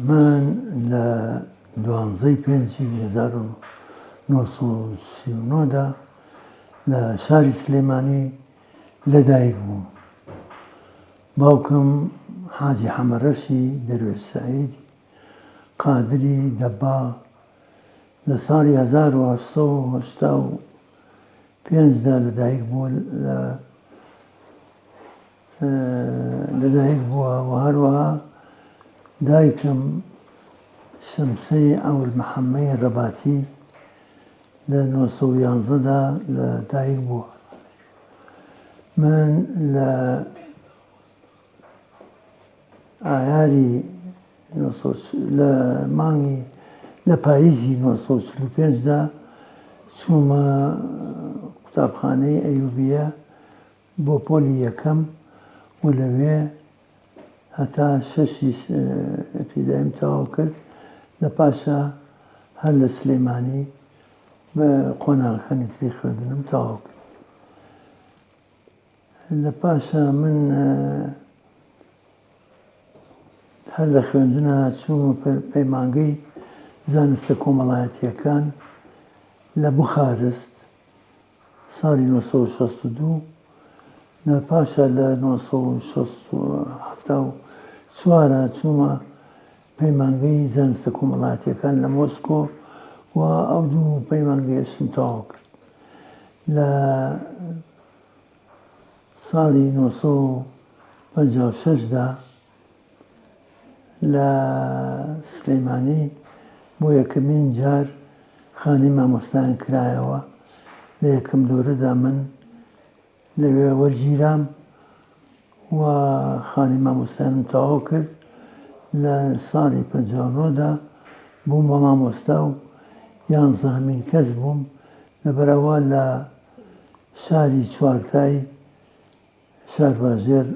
من لە دوانزەی پێنجی هەزار و نۆ سەد و سی و نۆ دا لە شاری سلێمانی لەدایک بووم. باوکم حاجی حەمەرەشی دەروێش سەعیدی قادری دەباغ لە ساڵی هەزار و هەشت سەد و هەشتا و پێنج دا لەدایک بووە لە لەدایک بووە و هەروەها دایکم شەمسەی ئەول محەممەی ڕەباتی لە 1970دا لە دایک بووە من لە ئایاری لە مانگی لە پاییزی نۆ سەد و چل و پێنج دا چوومە قوتابخانەی ئەیوبیە بۆ پۆلی یەکەم و لەوێ هەتا شەشی ئەپیدایم تەواو کرد لە پاشا هەر لە سلێمانی قۆناغەکانی تری خوێندنم تەواو کرد. لە پاشا من هەر لە خوێندنا چوومە پەیمانگەی زانستە کۆمەڵایەتیەکان لە بخارست ساڵی 1962 لە پاشا لە 1970 چوومە پەیمانگەی زانستە کۆمەڵاتیەکان لە مۆسکۆ و ئەو دوو پەیمانگەیەشم تەواو کرد لە ساڵی نۆ سەد و پەنجا و شەش دا لە سلێمانی بۆ یەکەمین جار خانەی مامۆستایان کرایەوە لە یەکەم دورەدا من لەوێ وەرگیرام و خانی مامۆستایانم تەواو کرد لە ساڵی پەنجاونۆدا بووم بە مامۆستا و یانزەهەمین کەس بووم لە بەرەوە لە شاری چوارتای شارباژێر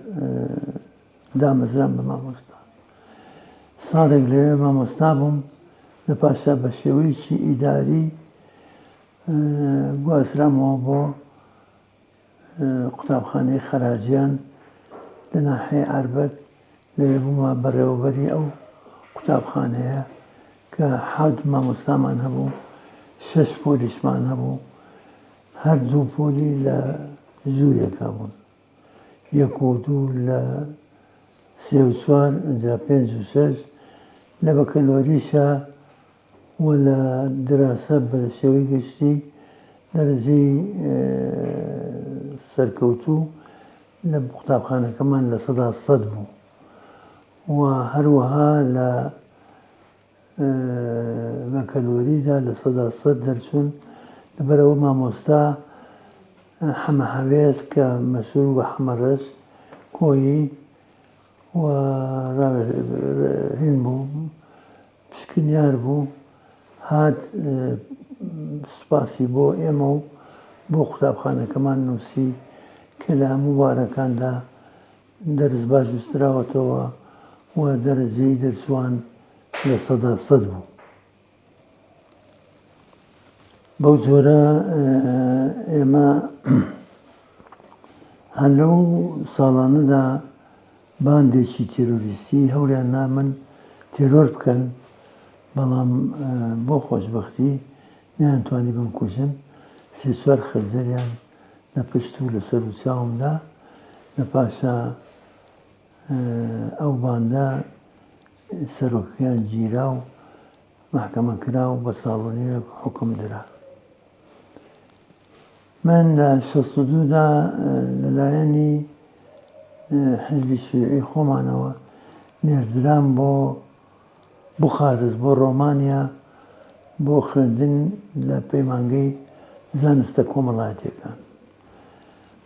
دامەزرام بە مامۆستا ساڵێک لەوێ مامۆستا بووم لە پاشا بە شێوەیەکی ئیداری گوازرامەوە بۆ قوتابخانەی خەراجیان لە ناحەیە ئاربەت لەوێ بوومە بەڕێوەبەری ئەو قوتابخانەیە کە حەوت مامۆستامان هەبوو شەش پۆلیشمان هەبوو هەر دوو پۆلی لە ژوورێکا بوون، یەک و دوو لە سێ و چوار، ئینجا پێنج و شەش. لە بەکەلۆریشا و لە دراسە بە شێوەی گشتی دەرەجەی سەرکەوتوو لە قوتابخانەکەمان لە سەدا سەد بوو و هەروەها لە لە کەلوەریدا لە سەدا سەد دەرچوون لەبەر ئەوە مامۆستا حەمە هەوێز کە مەشهور بە حەمە ڕەش کۆیی و هین بوو پشکنیار بوو هات سوپاسی بۆ ئێمە و بۆ قوتابخانەکەمان نووسی کە لە هەموو بارەکاندا دەرس باش نووسراوەتەوە و دەرەجەی دەرچووان لە سەدا سەد بوو. بەو جۆرە ئێمە هەر لەو ساڵانەدا باندێکی تێرۆریستی هەوریان نامن تێرۆر بکەن بەڵام بۆ خۆشببختی نیانتوانی بمکوژن سێ چوار خەزەریان لە پشت و لە سەرو چاومدا لە پاشا ئەو باندە سەرۆکەکەیان گیرا و مەحکەمە کرا و بە ساڵۆنیەک حکم درا من لە شەست و دوودا لەلایەنی حزبی شوێعی خۆمانەوە نێردران بۆ بوخارست بۆ ڕۆمانیا بۆ خوێندن لە پەیمانگەی زانستە کۆمەڵایەتیەکان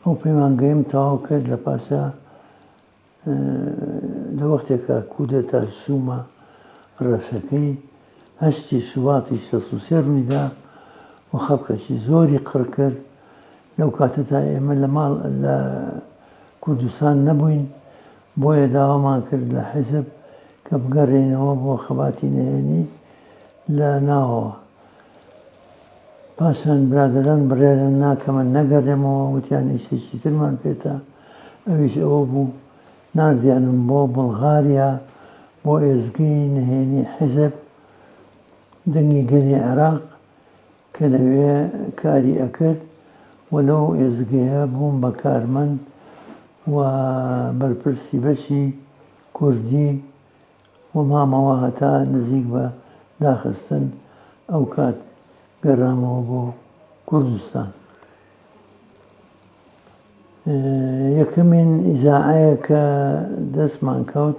ئەو پەیمانگەیم تەواو کرد لە پاشا لە وەختێکە کودەتا شوومە ڕەشەکەی هەشتی شوواتی شەسوسێ ڕوویدا و خەڵکەشی زۆری قڕکرد لەو کاتەتا ئێمە لە ماڵ لە کوردستان نەبووین، بۆیە داوامان کرد لە حیزب کە بگەرێینەوە بۆ خەباتی نهێنی لە ناوەوە. پاشان برادەران بڕیاریان نا کە من نەگەرێمەوە، وتیان ئیشێکی ترمان پێتە، ئەویش ئەوە بوو ناردیانم بۆ بوڵغاریا بۆ ئێزگەی نهێنی حیزب، دەنگی گەلی عێراق، کە لەوێ کاری ئەکرد و لەو ئێزگەیە بووم بە کارمەند و بەرپرسی بەشی کوردی و مامەوە هەتا نزیک بە داخستن ئەو کات گەرامەوە بۆ کوردستان یەکەمین ئیزاعەیە کە دەستمان کەوت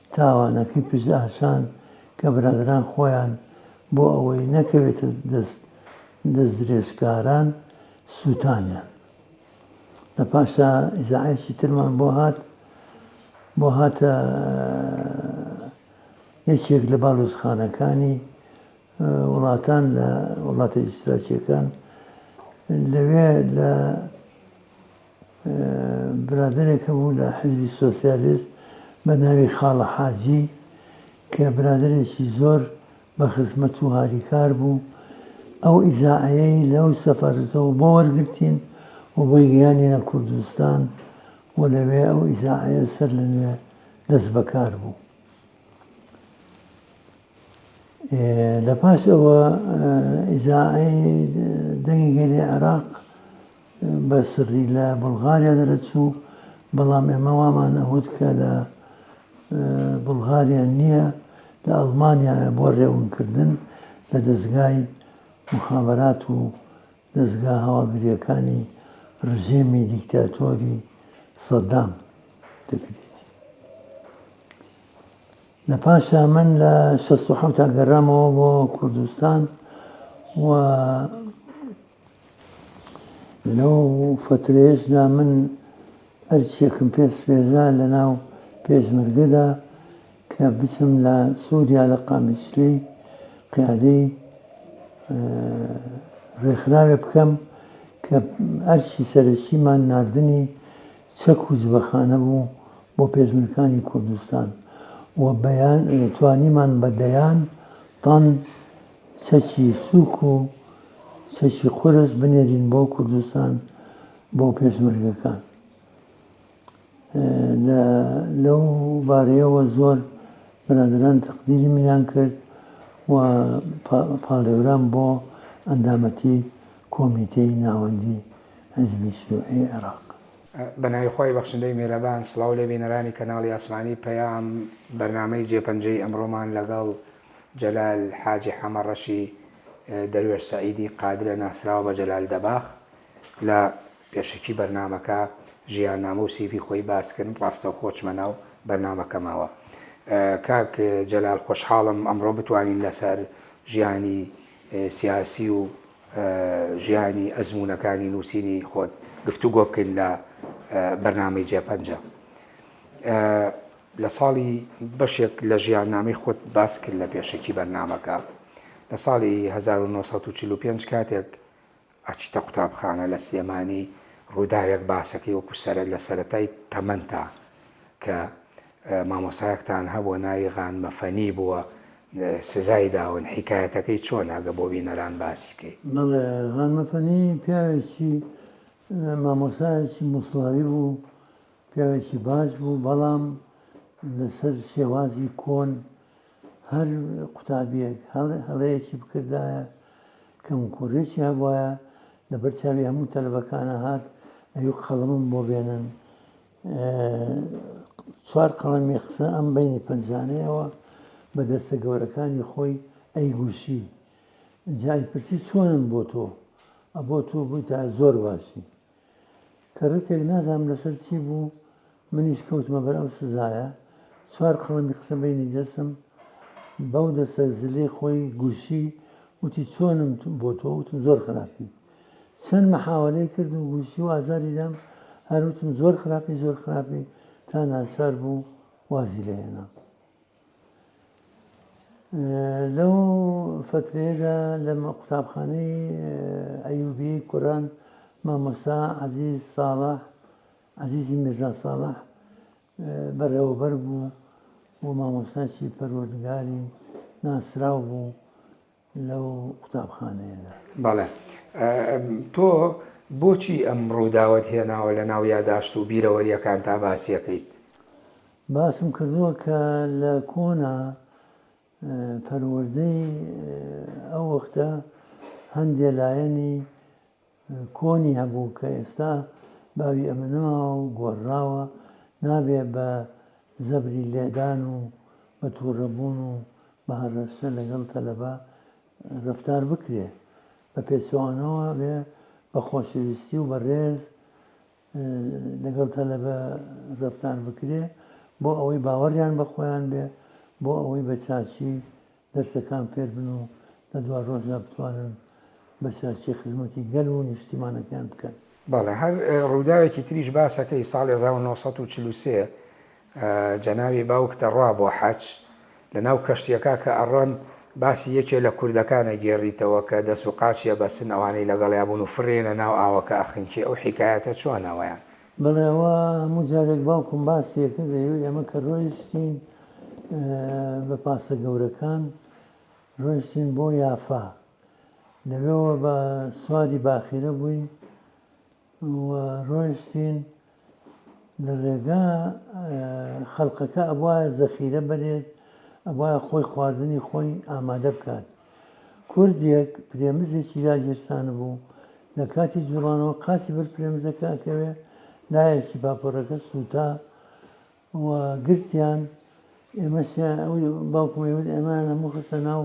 تاوانەکەی پشت ئاشان کە برادەران خۆیان بۆ ئەوەی نەکەوێتە دەست دەستدرێژکاران سووتانیان. لە پاشا ئیزاعەیەکی ترمان بۆ هات، بۆ هاتە یەکێک لە باڵوزخانەکانی وڵاتان لە وڵاتە ئیشتراکیەکان لەوێ لە برادەرێک هەبوو لە حیزبی سۆسیالیست بە ناوی خاڵە حاجی کە برادەرێکی زۆر بە خزمەت و هاریکار بوو ئەو ئیزاعەیەی لەو سەفەرەوە بۆ وەرگرتین و بۆی گەیانینە کوردستان و لەوێ ئەو ئیزاعەیە سەر لە نوێ دەست بەکار بوو. لە پاش ئەوە ئیزاعەی دەنگی گەلی عێراق بە سڕی لە بولغاریا دەرەچوو بەڵام ئێمە وامان ئەوت کە لە بولغاریا نییە لە ئەڵمانیا بۆ ڕێونکردن لە دەستگای مخابرات و دەستگا هەواڵگریەکانی ڕژێمی دیکتاتۆری سەدام دەکرێت. لە پاشا من لە شەست و حەوتا گەڕامەوە بۆ کوردستان و لەو فەترەیەشدا من ئەرچێکم پێ سپێررا لە ناو پێشمەرگەدا کە بچم لە سووریا لە قامیشلی قیادەی ڕێکخراوێ بکەم کە ئەرچی سەرەکیمان نردنی چەک و جبەخانە بوو بۆ پێشمەرکانی کوردستان و بەیان توانیمان بە دەیان تەن چەکی سووک و چەکی قورس بنێرین بۆ کوردستان بۆ پێشمەرگەکان لەو بارەیەوە زۆر برادران تەقدیری منیان کرد و پاڵێوران بۆ ئەندامەتی کۆمیتەی ناوەندی حیزبی شیوعی عێراق. بە ناوی خوای بەخشندەی میهرەبان سڵاو لە بینەرانی کەناڵی ئاسمانی پەیام بەرنامەی جێ پەنجەی ئەمڕۆمان لەگەڵ جەلال حاجی حەمە ڕەشی دەروێش سەعیدی قادرە ناسراو بە جەلال دەباخ لە پێشەکی بەرنامەکە ژیان نامە و سیڤی خۆی باس کرد ڕاستەوخۆ چمە ناو بەرنامەکەمەوە کاک جەلال خۆشحاڵم ئەمڕۆ بتوانین لەسەر ژیانی سیاسی و ژیانی ئەزموونەکانی نووسینی خۆت گفتوگۆ بکەین لە بەرنامەی جێ پەنجە لە ساڵی بەشێک لە ژیاننامەی خۆت باس کرد لە پێشەکی بەرنمەکە لە ساڵی 1945 کاتێک ئەچیتە قوتابخانە لە سلێمانی ڕووداوێک باسەکەی وەکو سەرە لە سەتای تەمەەن تا کە مامۆستایەکتان هەبوە ناوی غان مەفەنی بوە سزای داون حیکایەتەکەی چۆنە گە بۆ بینەران باسی کەی. بەڵێ غان مەفەنی پیاوێکی مامۆسایەکی موسڵاوی بوو پیاوێکی باش بوو بەڵام لەسەر شێوازی کۆن هەر قوتابیەک هەڵەیەکی بکردایە کەم کوڕێکی هەبواە لەبەر چاوی هەموو تەلبەکانە هات ئەوی قەڵمم بۆ بێنن چوار قەڵەمی قسە ئەم بەینی پەنجانەیەوە بە دەستە گەورەکانی خۆی ئەیگوشی جای پرسی چۆنم بۆ تۆ ئەبۆ تۆ بووی تا زۆر باشی کە ڕتێک نازانم لەسەر چی بوو منیش کەوتمە بەر ئەو سزایە چوار قەڵەمی قسە بینی دەسم بەو دەسە زلەی خۆی گوشی وتی چۆنم بۆ تۆ وتم زۆر خراپی چەند محاولەی کرد و گوشی و ئازاری دام هەر وتم زۆر خراپی زۆر خراپی تا ناچار بوو وازی لێ هێنام لەو فترەیەدا لە قوتابخانەی ئەیوبی کوڕان مامۆسا عزیز ساڵح عزیزی میرزا ساڵح بەڕێوەبەر بوو و مامۆستاچی پەروەردگاری ناسراو بوو لەو قوتابخانەیەدا. بەڵێ. تۆ بۆچی ئەم ڕووداوەت هێناوە لە ناو یاداشت و بیرەوەرییەکانتا باسیەکەیت؟ باسم کردووە کە لە کۆنا پەروەردەی ئەو وەختە هەندێ لایەنی کۆنی هەبوو کە ئێستا باوی ئەمە نەماوە و گۆڕراوە، نابێ بە زەبری لێدان و بە تووڕەبوون و بە هەڕەشە لەگەڵ تەلەبە ڕەفتار بکرێ، بە پێچەوانەوە بێ بە خۆشەویستی و بە ڕێز لەگەڵ تەلەبە ڕەفتار بکرێ، بۆ ئەوەی باوەڕیان بە خۆیان بێ، بۆ ئەوەی بە چاکی دەرسەکان فێر بن و لە دوا ڕۆژدا بتوانن بە سەرچی خزمەتی گەل و نیشتیمانەکەیان بکەن. بەڵێ هەر ڕووداوێکی تریش باسەکەی ساڵی هەزار و نۆ سەد و چل و سێ جەنابی باوک دەڕوا بۆ حەج لە ناو کەشتیەکە کە ئەڕۆن باسی یەکێ لە کوردەکان ئەگێڕیتەوە کە دەس و قاچی ئەبەستن ئەوانەی لەگەڵیا بوون و فڕێنە ناو ئاوەکە ئەخنکی ئەو حیکایەتە چۆنە وەیان بەڵێ ئەوە هەموو جارێک باوکم باسی ئەکرد ئەیوت ئێمە کە ڕۆیشتین بە پاسە گەورەکان ڕۆیشتین بۆ یافا لەوێەوە بە سواری باخیرە بووین ڕۆیشتین لە ڕێگا خەڵقەکە ئەبواە زەخیرە بەرێت ئەبواە خۆی خواردنی خۆی ئامادە بکات کوردێک پرێمزێکی لا گیرسانبوو، لە کاتی جووڵانەوە قاچی بەر پرێمزەکە ئەکەوێ، لایەکی پاپۆرەکە سووتا و گرتیان، ئێمەشیان ئەوی باوکم ئەیوت ئەمەیان هەموو خستە ناو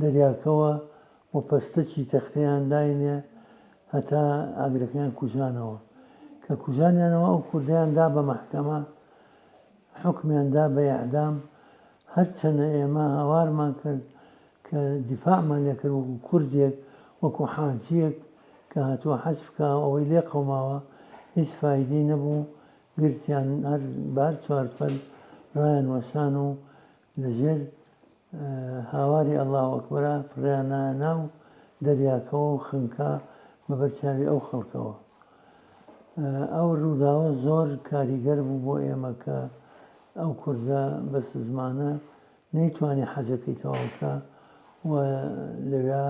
دەریاکەوە و پەستەکی تەختەیان داینێ هەتا ئاگرەکەیان کوژانەوە. کە کوژانیانەوە ئەو کوردەیان دا بە مەحکەمە. حوکمیان دا بە اعدام هەر چەنە ئێمە هاوارمان کرد کە دیفاعمان لێ کرد وەکو کوردێک وەکو حاجیەک کە هاتوە حەج بکا ئەوەی لێ قەوماوە هیچ فایدەی نەبوو گرتیان هەر بە هەر چوار پەل ڕایان وەشان و لەژێر هاواری اللە اکبرا فڕێیانایە ناو دەریاکەوە و خنکا بەبەر چاوی ئەو خەڵکەوە. ئەو ڕووداوە زۆر کاریگەر بوو بۆ ئێمە کە ئەو کوردە بە سزمانە نەیتوانی حەجەکەی تەواوکە و لەوێ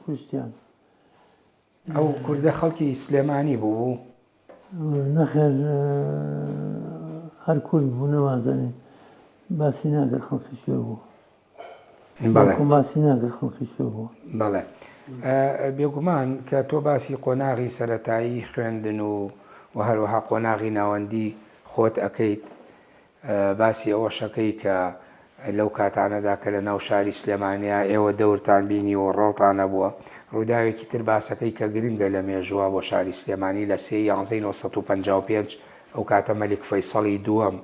کوشتیان. ئەو کوردە خەڵکی سلێمانی بوو؟ نەخێر هەر کورد بوو نەوازانین باسی ناکە خەڵکی شوێ بوو باسی ناکە خەڵکی شوێ بوو بەڵێ بێگومان کە تۆ باسی قۆناغی سەتایی خوێندن و و هەروەها قۆناغی ناوەندی خۆت ئەەکەیت باسی ئەوەشەکەی کە لەو کاتانەدا کە لە ناو شاری سلێمانیا ئێوە دەورتان بینیوە و ڕۆڵتان هەبووە. ڕووداوێکی تر باسەکەی کە گرنگە لە مێژووە بۆ شاری سلێمانی لە سێ ی یانزەی نۆ سەد و پەنجا و پێنج ئەو کاتە مەلیک فەیسەڵی دووەم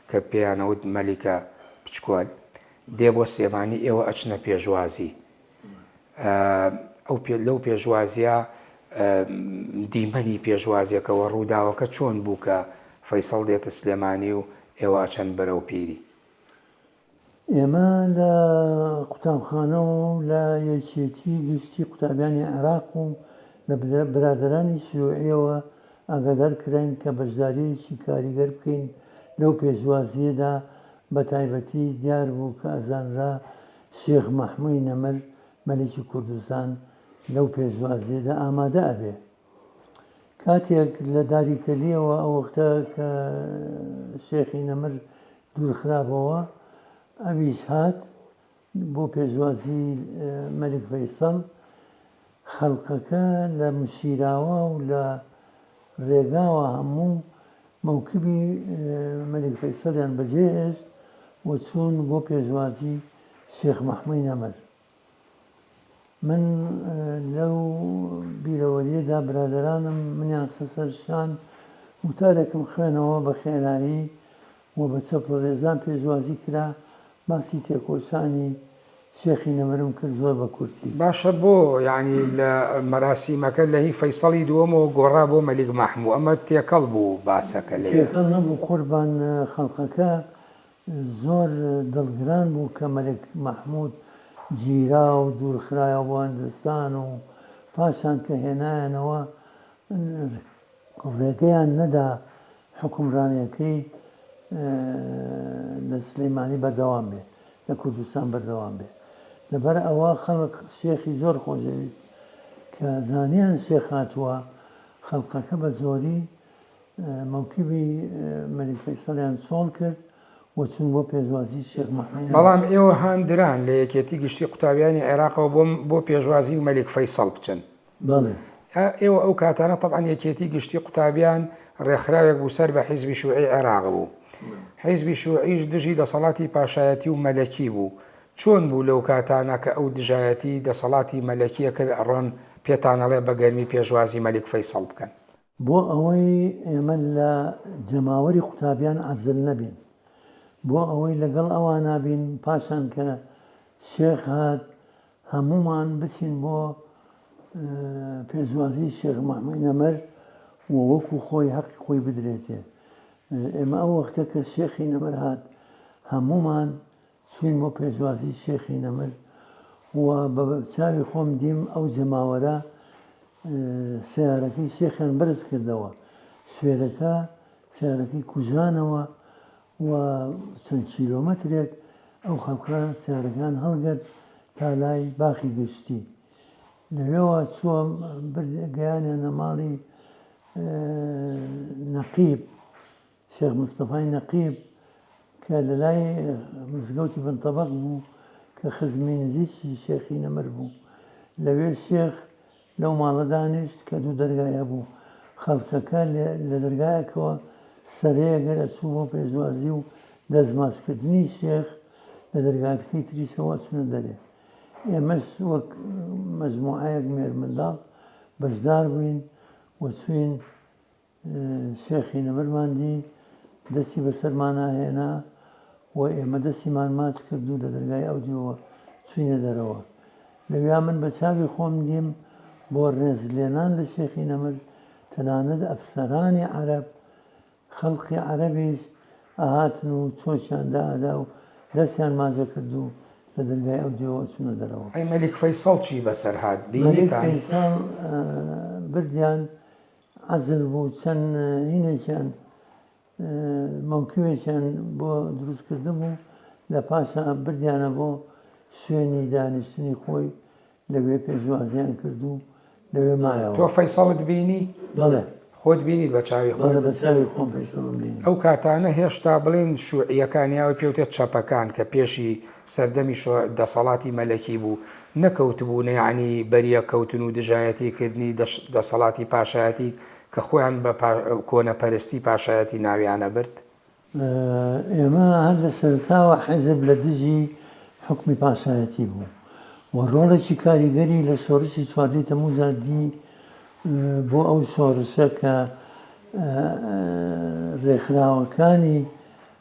کە پێیان ئەوت مەلیکە پچکۆل دێ بۆ سلێمانی ئێوە ئەچنە پێشوازی ئەو پێ لەو پێشوازیە دیمەنی پێشوازیەکەوە ڕووداوەکە چۆن بوو کە فەیسەڵ دێتە سلێمانی و ئێوە ئەچەن بەرەو پیری؟ ئێمە لە قوتابخانە و لە یەکێتی گشتی قوتابیانی عێراق و لە برادەرانی شیوعیەوە ئاگادار کراین کە بەشداریەکی کاریگەر بکەین لەو پێشوازیەدا بەتایبەتی دیار بوو کە ئەزانرا شێخ مەحموی نەمر مەلیکی کوردستان لەو پێشوازیەدا ئامادە ئەبێ. کاتێک لە داری کەلیەوە ئەوەختە کە شێخی نەمر دوورخرابەوە ئەویش هات بۆ پێشوازی مەلک فەیسەڵ خەڵکەکە لە مسیراوە و لە رێگاوە هەموو مەوکبی مەلیک فەیسەڵیان بەجێ هێشت و چوون بۆ پێشوازی شێخ مەحمووی نەمر. من لەو بیرەوەریەدا برادەرانم منیان خستە سەر شان وتارێکم خوێنەوە بە خێرایی و بە چەپڵەلێزان پێشوازی کرا، باسی تێکۆشانی شێخی نەمرم کرد زۆر بە کورتی. باشە بۆ یانی لە مەراسیمەکە لە هی فەیسەڵی دووەمەوە گۆڕا بۆ مەلیک ماحموو ئەمە تێکەڵ بوو باسەکە لەوێ؟ تێکەڵ نەبوو قوربان خەڵقەکە زۆر دڵگران بوو کە مەلک ماحموود گیرا و دوورخرایەوە بۆ هندستان و پاشان کە هێنایانەوە ڕێگەیان نەدا حوکمڕانیەکەی لە سلێمانی بەردەوام بێ لە کوردستان بەردەوام بێ لەبەر ئەوە خەڵک شێخی زۆر خۆشەویست کە زانیان شێخ هاتووە خەڵقەکە بە زۆری مەوکیبی مەلیک فەیسەڵیان چۆڵ کرد وچون بۆ پێشوازی شێخ محمد بەڵام ئێوە هاندران لە یەکێتی گشتی قوتابیانی عێراقەوە بۆ بۆ پێشوازی مەلیک فەیسەڵ بچن بەڵێ. ئێوە ئەو کاتانە تەبعەن یەکێتی گشتی قوتابیان ڕێکخراوێک بوو سەر بە حیزبی شوعی عێراق بوو. حیزبی شوعیش دژی دەسەڵاتی پاشایەتی و مەلەکی بوو. چۆن بوو لەو کاتانە کە ئەو دژایەتی دەسەڵاتی مەلەکیە کرد ئەڕۆن پێتان ئەڵێ بە گەرمی پێشوازی مەلیک فەیسەڵ بکەن. بۆ ئەوەی ئێمە لە جەماوەری قوتابیان عەزل نەبین، بۆ ئەوەی لەگەڵ ئەوانا بین، پاشان کە شێخ هات هەموومان بچین بۆ پێشوازی شێخ مەحموی نەمر و وەکو خۆی هەقی خۆی بدرێتێ. ئێمە ئەو وەختە کە شێخی نەمر هات هەموومان چووین بۆ پێشوازی شێخی نەمر و بە چاوی خۆم دیم ئەو جەماوەرە سیارەکەی شێخیان بەرز کردەوە سوێرەکە سیارەکەی کوژانەوە و چەند کیلۆمەترێک ئەو خەڵکە سیارەکان هەڵگەت تا لای باخی گشتی لەوێەوە چووە گەیانە نەماڵی نەقیب شێخ مستەفای نەقیب کە لە لای مزگەوتی بن تەبەق بوو کە خزمی نزیکی شێخی نەمر بوو لەوێ شێخ لەو ماڵە دانیشت کە دوو دەرگای هەبوو خەڵکەکە لە دەرگایەکەوە سەرەیە گەر ئەچوو بۆ پێشوازی و دەستماچکردنی شێخ لە دەرگاتەکەی تریشەوە ئەچونە دەرێ ئێمەش وەک مەجموعەیەک مێرمنداڵ بەشدار بووین و چوین شێخی نەمرمان دی، دەستی بەسەرمانا هێنا و ئێمە دەستیمان ماچ کرد و لە دەرگای ئەو دیوە چووینە دەرەوە. لەویا من بە چاوی خۆم دیم بۆ ڕێزلێنان لە شێخی نەمر، تەنانەت ئەفسەرانی عەرەب، خەڵقی عەرەبیش ئەهاتن و چۆکیان دائەدا و دەستیان ماجە کرد و لە دەرگای ئەو دیوە ئەچوونە دەرەوە. ئەی مەلیک فەیسەڵ چی بەسەر هات؟ بینیتان؟ مەلیک فەیسەڵ بردیان عەزل بوو چەند هینێکیان مەوکوێکیان بۆ دروست کردبوو لە پاشا بردیانە بۆ شوێنی دانیشتنی خۆی لەوێ پێشوازیان کردوو لەوێ مایەوە. تۆ فەیسەڵت بینی؟ بەڵێ. خۆت بینیت بە چاوی خۆت؟ بەڵێ بە چاوی خۆم فەیسەڵم بینی. ئەو کاتانە هێشتا بڵێن شوعیەکان یاوەی پێوتێت چەپەکان کە پێشی سەردەمی شۆع دەسەڵاتی مەلەکی بوو نەکەوتبوونە یەعنی بەریەک کەوتن و دژایەتی کردنی دەسەڵاتی پاشایەتی کە خۆیان بە کۆنە پەرستی پاشایەتی ناویان ئەبرد. ئێمە هەر لە سەرەتاوە حیزب لە دژی حوکمی پاشایەتی بوو و ڕۆڵێکی کاریگەری لە شۆڕشی چواردەی تەمووزا دی بۆ ئەو شۆڕشە کە ڕێکخراوەکانی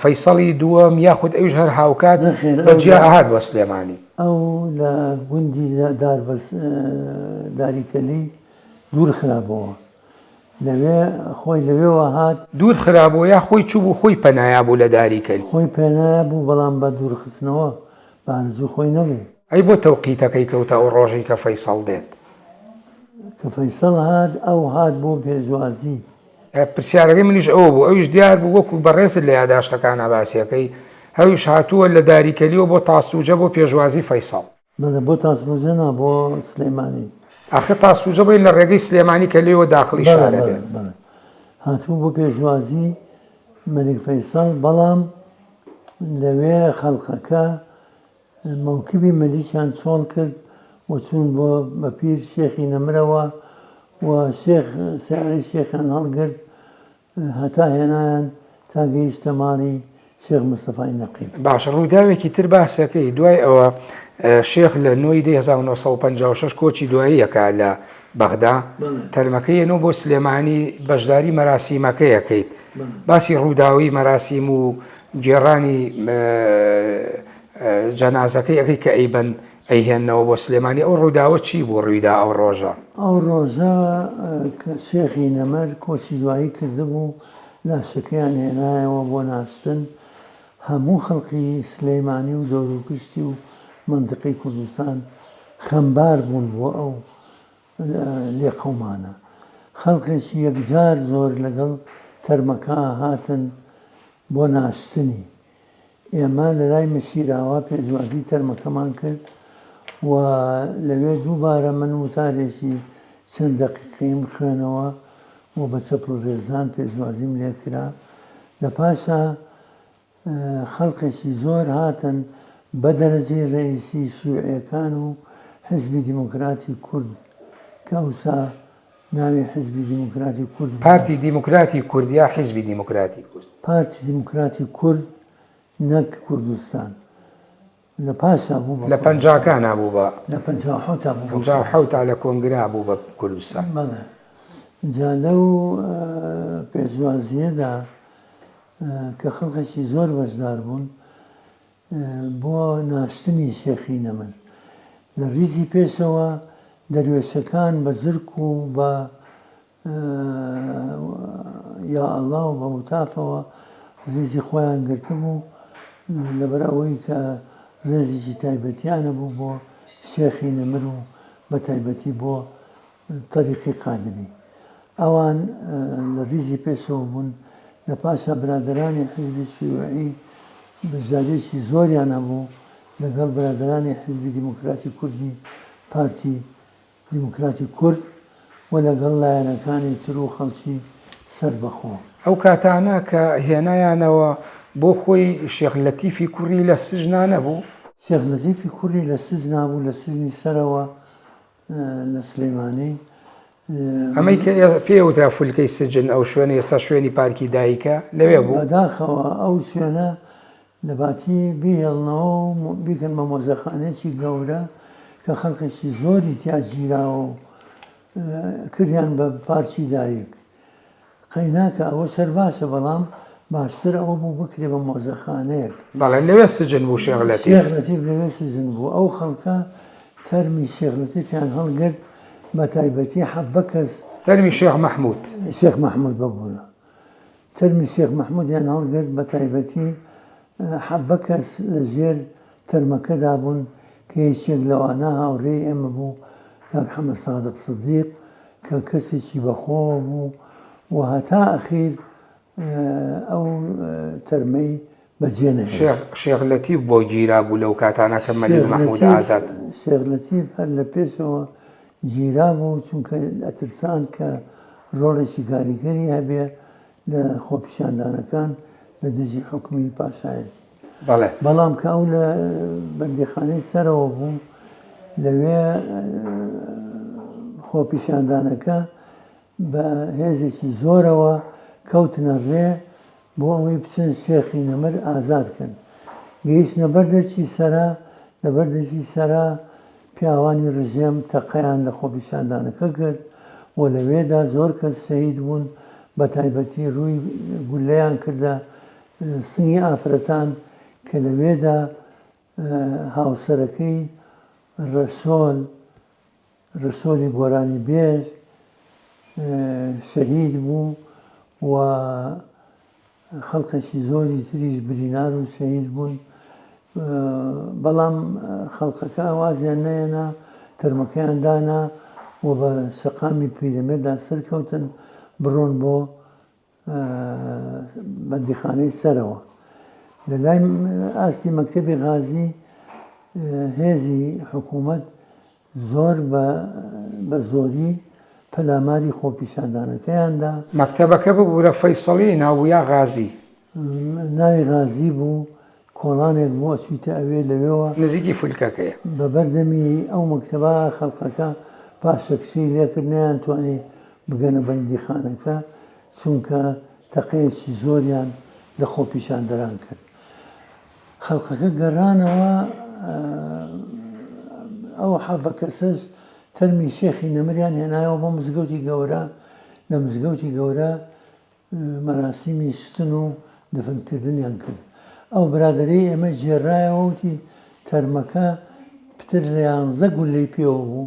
فەیسەڵی دووەم یاخود ئەوش هەر هاوکات بەجیاهات بە سلێمانی ئەو لە گوندی دار داریکەلی دوور خراپەوە لەوێ خۆی لەوێەوە هات دوور خراپەوە یا خۆی چوو بوو خۆی پەنایا بوو لە داریکەل خۆی پێنا بوو بەڵام بە دوورخستنەوە بانزوو خۆی نەبوو ئەی بۆ تەوقیتەکەی کەوتە ئەو ڕۆژی کە فەیسەڵ دێت کە فەیسەڵ هاات ئەو هاات بۆ پێشوازی پرسیارەکەی منیش ئەوە بوو، ئەویش دیار بوو وەکو بەڕێزت لە یاداشتەکانا باسی ئەکەی، ئەویش هاتووە لە داریکەلییەوە بۆ تاسوجە بۆ پێشوازی فەیسەڵ. بەڵێ بۆ تاسوجە نا بۆ سلێمانی. ئاخر تاسوجە بڵێ لە ڕێگەی سلێمانی کە لێیەوە داخڵی شار ئەبێ. بەڵێ بەڵێ بەڵێ هاتبوو بۆ پێشوازی مەلیک فەیسەڵ بەڵام لەوێ خەڵقەکە مەوکبی مەلیکیان چۆڵ کرد و چوون بۆ بەپیر شێخی نەمرەوە و شێخ سیارەی شێخیان هەڵگرت هەتا هێنایان تا گەیشتە ماڵی شێخ مستەفای نەقیب. باشە ڕووداوێکی تر باسەکەی دوای ئەوە شێخ لە نۆی دەی هەزار و نۆ سەد و پەنجا و شەش کۆچی دوایی ئەکا لە بەغدا تەرمەکەی ئەنۆ بۆ سلێمانی بەشداری مەراسیمەکەی ئەکەیت باسی ڕووداوی مەراسیم و گێڕانی جەنازەکەی ئەەکەی کە ئەیبەن ئەیهێنەوە بۆ سلێمانی ئەو ڕووداوە چی بوو ڕوویدا ئەو ڕۆژە ئەو ڕۆژە شێخی نەمەر کۆچی دوایی کردبوو لاشەکەیان هێنایەوە بۆ ناشتن هەموو خەڵکی سلەیمانی و دەوروپشتی و منتقی کوردستان خەمبار بوون بۆ ئەو لێ قەومانە خەڵکێکی یەکجار زۆر لەگەڵ تەرمەکە هاتن بۆ ناشتنی ئێمە لەلای مشیراوا پێشوازی تەرمەکەمان کرد و لەوێ دووبارە من وتارێکی چەند دەقیقەیم خوێنەوە و بە چەپڵ رێزان پێشوازیم لێکرا لە پاشا خەڵقێکی زۆر هاتن بە دەرەجەی رئیسی شیوعەکان و حزبی دیموکراتی کورد کە ئەوسا ناوی حیزبی دیموکراتی کورد پارتی دیموکراتی کورد یا حیزبی دیموکراتی کورد؟ پارتی دیموکراتی کورد نەک کوردستان لە پاشا بوو بە لە پەنجاکانا بوو بە لە پەنجا حەوتا بوو بە پەنجا و کوردستان. حەوتا لە کۆنگرا بوو بە کوردستان بەڵێ جا لەو ئە، پێشوازییەدا ئە، کە خەڵکەکی زۆر بەشدار بوون بۆ ناشتنی شێخی نەمر لە ڕیزی پێشەوە دەروێشەکان بە زرک و بە یا ئەڵا و بە هوتافەوە ڕیزی خۆیان گرتبوو لەبەر ئەوەی کە ڕێزیکی تایبەتیانە بوو بۆ شێخی نەمر و بە تایبەتی بۆ تەریقەی قادری. ئەوان لە ڕیزی پێشەوە بوون، لە پاشا برادەرانی حیزبی شیوعی بەشدارییەکی زۆریان هەبوو لەگەڵ برادەرانی حیزبی دیموکراتی کوردی پارتی دیموکراتی کورد و لەگەڵ لایەنەکانی تر و خەڵکی سەربەخۆ. ئەو کاتانە کە هێنایانەوە بۆ خۆی شێخ لەتیفی کوڕی لە سجنا نەبوو؟ شێخ لەتیفی کوڕی لە سجنا بوو، لە سجنی سەرەوە لە سلێمانی. ئەمەی کە پێ وترا فولکەی سجن ئەو شوێنە ئێستا شوێنی پارکی دایکە لەوێ بوو بەداخەوە ئەو شوێنە لەباتی بهێڵنەوە و بیکەن بە مۆزەخانێکی گەورە کە خەڵکێکی زۆری تیاگیراوە و کردیان بە پارچی دایک قەیناکە ئەوە سەر باشە بەڵام باشتر ئەوە بوو بکرێ بە مۆزەخانەیەک. بەڵێ لەوێ سجن بوو شێخ لەتیف. شێخ لەتیف لەوێ سجن بوو ئەو خەڵکە تەرمی شێخ لەتیفیان هەڵگرت بە تایبەتی حەڤە کەس. تەرمی شێخ مەحمود. شێخ مەحمود ببورە تەرمی شێخ مەحمودیان هەڵگرت بە تایبەتی حەڤە کەس لە ژێر تەرمەکەدا بوون کە یەکێک لەوانە هاوڕێی ئێمە بوو، کاک حەمەسادق سدیق، کە کەسێکی بەخۆوە بوو و هەتا ئەخیر ئەو تەرمەی بەجێ نەهێشت. شێخ لەتیف بۆ گیرابوو لەو کاتانە کە مەلیک مەحمود ئازاد. شێخ لەتیف هەر لە پێشەوە گیرابوو، چونکە ئەترسان کە رۆڵێکی کاریگەری هەبێ لە خۆپیشاندانەکان لە دژی حوکمی پاشایەتی بەڵام کە ئەو لە بەندیخانەی سەرەوە بوو لەوێ خۆپیشاندانەکە بە هێزێکی زۆرەوە کەوتنە ڕێ بۆ ئەوەی بچن شێخی نەمر ئازادکەن گەیشتە بەردەچی سەرا لە بەردەچی سەرا پیاوانی رژێم تەقەیان لە خۆپیشاندانەکە کرد و لەوێدا زۆر کەس شەهید بوون، بەتایبەتی رووی گوللەیان کردە سنگی ئافرەتان کە لەوێدا هاوسەرەکەی رەسۆل رەسۆلی گۆرانیبێژ شەهید بوو و خەڵکەکی زۆری تریش برینار و شەهید بوون بەڵام خەڵکەکە وازیان نەیەنا تەرمەکەیان دانا و بە شەقامی پیرەمێدا سەرکەوتن بڕۆن بۆ بەندیخانەی سەرەوە لە لای ئاستی مەکتتەبی غازی هێزی حکوومەت زۆر بە بە زۆری پەلاماری خۆپیشاندانەکەیان دا. مەکتەبەکە ببورە فەیسەڵی ناوبویا غازی. ناوی غازی بوو کۆڵانێک بوو ئەچویتە ئەوێ لەوێوە. نزیکی فولکەکەیە. بە بەردەمی ئەو مەکتەبە خەڵقەکە پاشەکشەی لێکرد نەیانتوانی بگەنە بەندیخانەکە چونکە تەقەیەکی زۆریان لە خۆپیشاندەران کرد. خەڵکەکە گەڕانەوە ئەو حەڤە کەسەش تەرمی شێخی نەمریان هێنایەوە بۆ مزگەوتی گەورە لە مزگەوتی گەورە مەراسیمی شتن و دفنکردنیان کرد ئەو برادری ئێمە ژێرایەوەوتی تەرمەکە پتر لە یانزە گولەی پێوە بوو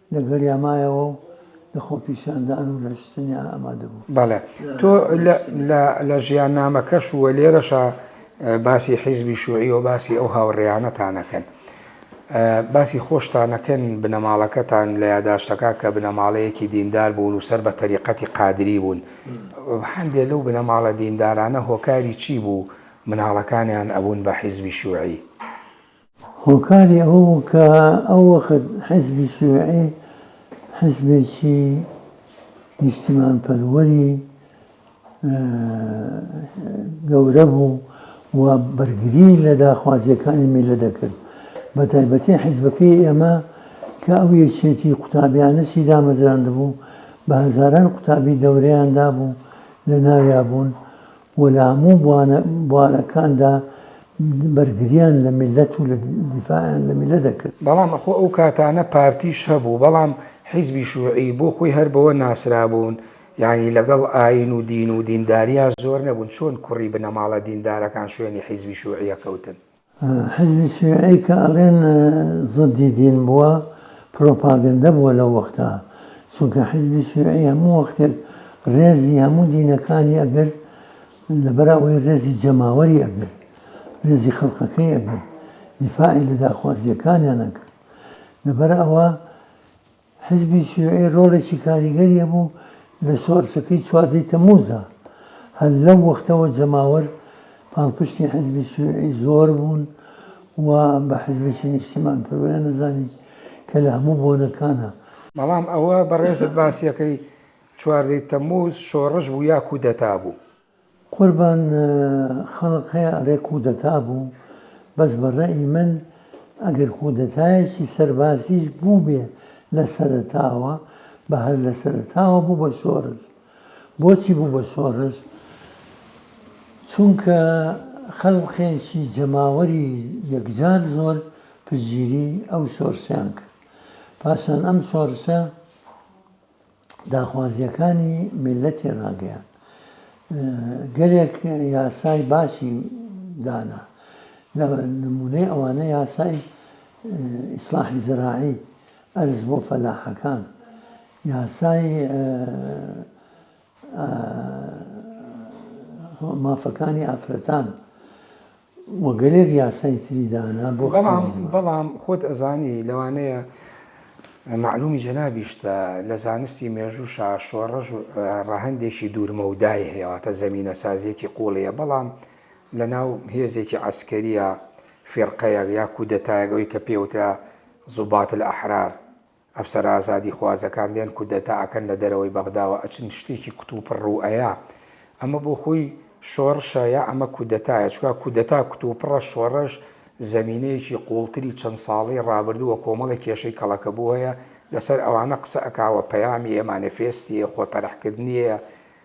لەگەڵیا مایەوە و لە خۆپیشاندان و لەشجنیا ئامادە بوو. بەڵێ تۆ لە ژیاننامەکەش و لێرەشا باسی حیزبی شوعی و باسی ئەو هاوڕێیانەتانەکەن. باسی خۆشتانەکەن بنەماڵەکەتان لە یاداشتەکە کە بنەماڵەیەکی دیندار بوون و سەر بە تەریقەتی قادری بوون. هەندێک لەو بنەماڵە دیندارانە هۆکاری چی بوو مناڵەکانیان ئەبوون بە حیزبی شوعی؟ هۆکاری ئەوە بوو کە ئەو وەخت حیزبی شیوعی حیزبێکی نیشتیمانپەروەری گەورە بوو و بەرگری لە داخوازیەکانی میلە دەکرد بە تایبەتی حیزبەکەی ئێمە کە ئەو یەکێتی قوتابیانەشی دامەزراند بوو بە هەزاران قوتابی دەورەیاندا بوو لە ناویا بوون و لە هەموو بوارەکاندا بەرگریان لە میللەت و دیفاعیان لە میللەت دەکرد. بەڵام ئەخۆ ئەو کاتانە پارتیش هەبوو، بەڵام حیزبی شوعی بۆ خۆی هەر بەوە ناسرابوون یانی لەگەڵ ئایین و دین و دینداریان زۆر نەبوون، چۆن کوڕی بنەماڵە دیندارەکان شوێنی حیزبی شوعیە کەوتن؟ حزبی شیعەی کە ئەڵێن زدی دین بووە پروپاگەندە بووە لەو وەختە چونکە حزبی شیعەی هەموو وەختێک ڕێزی هەموو دینەکانی ئەگرت لەبەر ئەوەی ڕێزی جەماوەری ئەگرت ڕێزی خەڵقەکەی ئەگرت دیفاعی لە داخوازیەکانیان ئەکرد لەبەر ئەوە حزبی شیوعی ڕۆڵێکی کاریگەری هەبوو لە شۆڕشەکەی چواردە تەموزا، هەر لەو وەختەوە جەماوەر پاڵپشتی حزبی شیوعی زۆر بوون و بە حزبێکی نیشتیمان پەروەیان دەزانی کە لە هەموو بۆنەکانا. بەڵام ئەوە بەڕێزت باسیەکەی چواردە تەموز شۆڕش بوو یا کودەتا بوو؟ قوربان خەڵک هەیە ئەڵێ کودەتا بوو بەس بە ڕەئی من ئەگەر کودەتایەکی سەربازیش بووبێ لە سەرەتاوە بە هەر لە سەرەتاوە بوو بە شۆڕش بۆچی بوو بە شۆڕش چونکە خەڵقێکی جەماوەری یەکجار زۆر پشتگیری ئەو شۆڕشیان کرد پاشان ئەم شۆڕشە داخوازییەکانی میللەتی ڕاگەیاند. گەلێک یاسای باشی دانا. لە نموونەی ئەوانە یاسای ئیسڵاحی زەراعی، ئەرز بۆ فەلاحەکان، یاسای مافەکانی ئافرەتان، و گەلێک یاسای تری دانا بۆ کچی بەڵام زمان. بەڵام خۆت ئەزانی لەوانەیە مەعلومی جەنابیشتە لە زانستی مێژووشا شۆڕش ڕەهەندێکی دوورمەودای هەیە واتە زەمینەسازیەکی قووڵیە بەڵام لە ناو هێزێکی عەسکەریە فیرقەیەک یا کودەتایەک ئەوەی کە پێوترا زوبات الاحرار ئەفسەرە ئازادی خوازەکان دێن کودەتا ئەکەن لە دەرەوەی بەغداوە ئەچن شتێکی کوتوپڕ ڕوو ئەیا ئەمە بۆ خۆی شۆڕشە یا ئەمە کودەتایە چوە کودەتا کوتوپڕە شۆڕش زەمینەیەکی قوڵتری چەند ساڵەی ڕابردوو وە کۆمەڵێک کێشەی کەڵەکەبووەیە لەسەر ئەوانە قسە ئەکا وە پەیامی یە مانێفێستیە خۆ تەرح کردنیەیە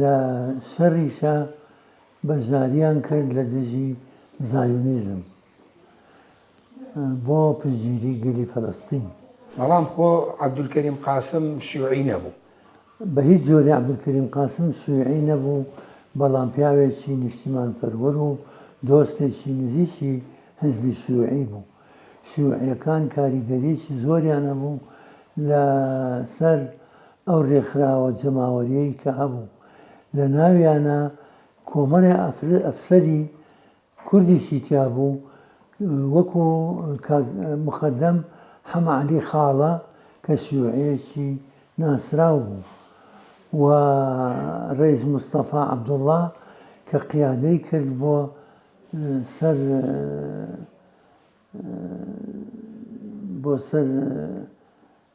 لە سەریشا بەشداریان کرد لە دژی زایۆنیزم بۆ پشتگیری گەلی فەلەستین. بەڵام خۆ عەبدولکەریم قاسم شیوعی نەبوو. بە هیچ جۆرێ عەبدولکەریم قاسم شیوعی نەبوو، بەڵام پیاوێکی نیشتیمانپەروەر و دۆستێکی نزیکی حیزبی شیوعی بوو. شیوعییەکان کاریگەریی زۆریان هەبوو لە سەر ئەو رێکخراوە جەماوەرییەی کە هەبوو، لە ناویانا کۆمەڵێ ئەفسەری کوردیشی تیا بوو، وەکو کاک موقەدەم حەمەعەلی خاڵە کە شیوعییەکی ناسراو بوو و رەیس مستەفا عەبدوڵڵا کە قیادەی کرد بۆ سەر بۆ سەر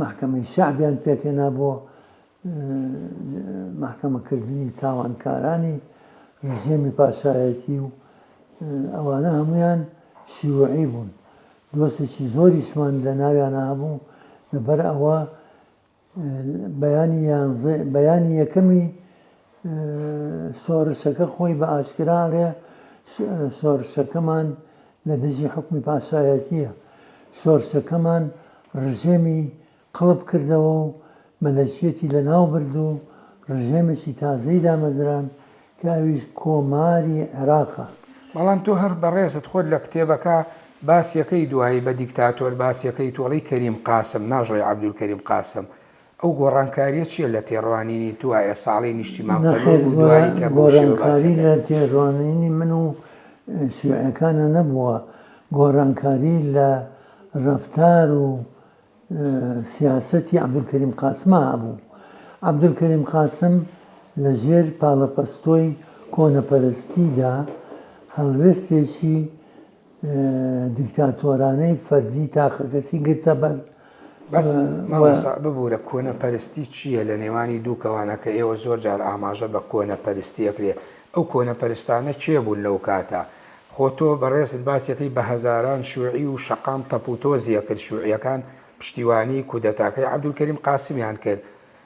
مەحکەمەی شەعبیان پێکهێنا بۆ مەحکەمەکردنی تاوانکارانی ڕژێمی پاشایەتی و ئەوانە هەمویان شیوعی بوون دۆسێکی زۆریشمان لە ناویانە هەبوو لەبەر ئەوە بەیانی یانزە بەیانی یەکەمی سۆرسەکە خۆی بە ئاشکرا ئەڵێ سۆرسەکەمان لە دژی حوکمی پاشایەتییە، سۆرسەکەمان ڕژێمی قڵپ کردەوە و مەلەکیەتی لەناو برد و ڕژێمێکی تازەی دامەزراند کە ئەویش کۆماری عێراقە. بەڵام تۆ هەر بەڕێزت خۆت لە کتێبەکە باس یەکەی دوایی بە دیکتاتۆر باس یەکەیت و ئەڵێی کەریم قاسم ناژڵێی عەبدولکەریم قاسم ئەو گۆڕانکاریە چیە لە تێڕوانینی تو ئایە ساڵی نیشتیمان پەروەر بو دوایی کە بەو شێوە باس دەکەن؟ گۆڕانکاری لە تێڕوانینی من و شیعەکانا نەبوە، گۆڕانکاری لە ڕەفتار و سیاسەتی عەبدولکەریم قاسما هەبو. عەبدولکەریم قاسم لە ژێر پاڵەپەستۆی کۆنەپەرستیدا هەڵوێستێکی، دیکتاتۆرانەی فەرزی تاقەکەسی گرتە بەر. بەس مامۆستا ببورە کۆنەپەرستی چییە لە نێوانی دوو کەوانە کە ئێوە زۆر جار ئاماژە بە کۆنەپەرستی ئەکرێ ئەو کۆنەپەرستانە کێ بوون لەو کاتە خۆ تۆ بەڕێزت باسی ئەکەی بە هەزاران شوعی و شەقام تەپوتۆزی ئەکرد شوعیەکان پشتیوانی کودەتاکەی عەبدولکەریم قاسمیان کرد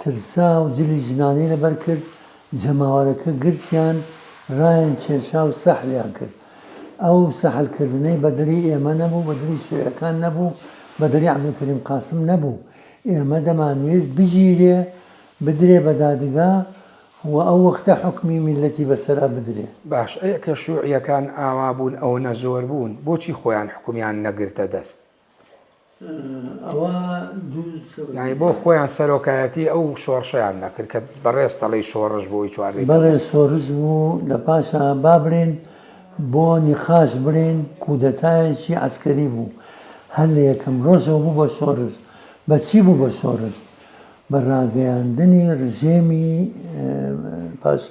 ترسا و جلی ژنانەی لەبەر کرد، جەماوەرەکە گرتیان، رایان کێشا و سەحریان کرد. ئەو سەحرکردنەی بە دڵی ئێمە نەبوو، بە دڵی شیعەکان نەبوو، بە دڵی عەبدولکەریم قاسم نەبوو. ئێمە دەمانویست بگیرێ، بدرێ بە دادگا و ئەو وەختە حوکمی میللەتی بە سەرا بدرێ. باش ئەی کە شوعیەکان ئاوا بوون، ئەوەنە زۆر بوون، بۆچی خۆیان حوکمیان نەگرتە دەست؟ یانی بۆ خۆیان سەرۆکایەتی ئەو شۆڕشەیان نەکرد کە بەڕێز تەڵی شۆڕش بۆی چوار بەڵێ شۆڕش بوو لە پاشا با بڵێن بۆ نیقاش بڵێن کودەتایەکی عسکەری بوو هەر لە یەکەم ڕۆژەوە بوو بە شۆڕش بەچی بوو بە شۆڕش بە ڕاگەیاندنی ڕژێمی پاش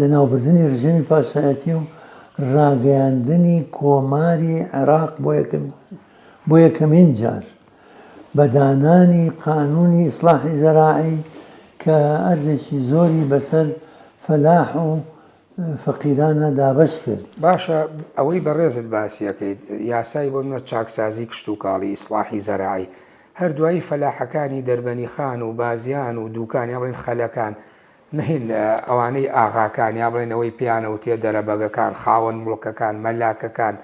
لەناوبردنی رژێمی پاشایەتی و راگەیاندنی کۆماری عێراق بۆ یەکەمین جار بە دانانی قانوونی ئیسڵاحی زەراعی کە ئەرزێکی زۆری بەسەر فەلاح و فەقیرانە دابەش کرد. باشە ئەوەی بەڕێزت باسی ئەکەیت یاسای بۆ نمونە چاکسازی کشتوکاڵی، ئیسڵاحی زەراعی، هەر دوایی فەلاحەکانی دەربەنیخان و بازیان و دووکان یان بڵێن خەلەکان، نەهین ئەوانەی ئاغاکان یا بڵێن ئەوەی پێیان ئەوترێ دەرەبەگەکان، خاوەن موڵکەکان، مەلاکەکان،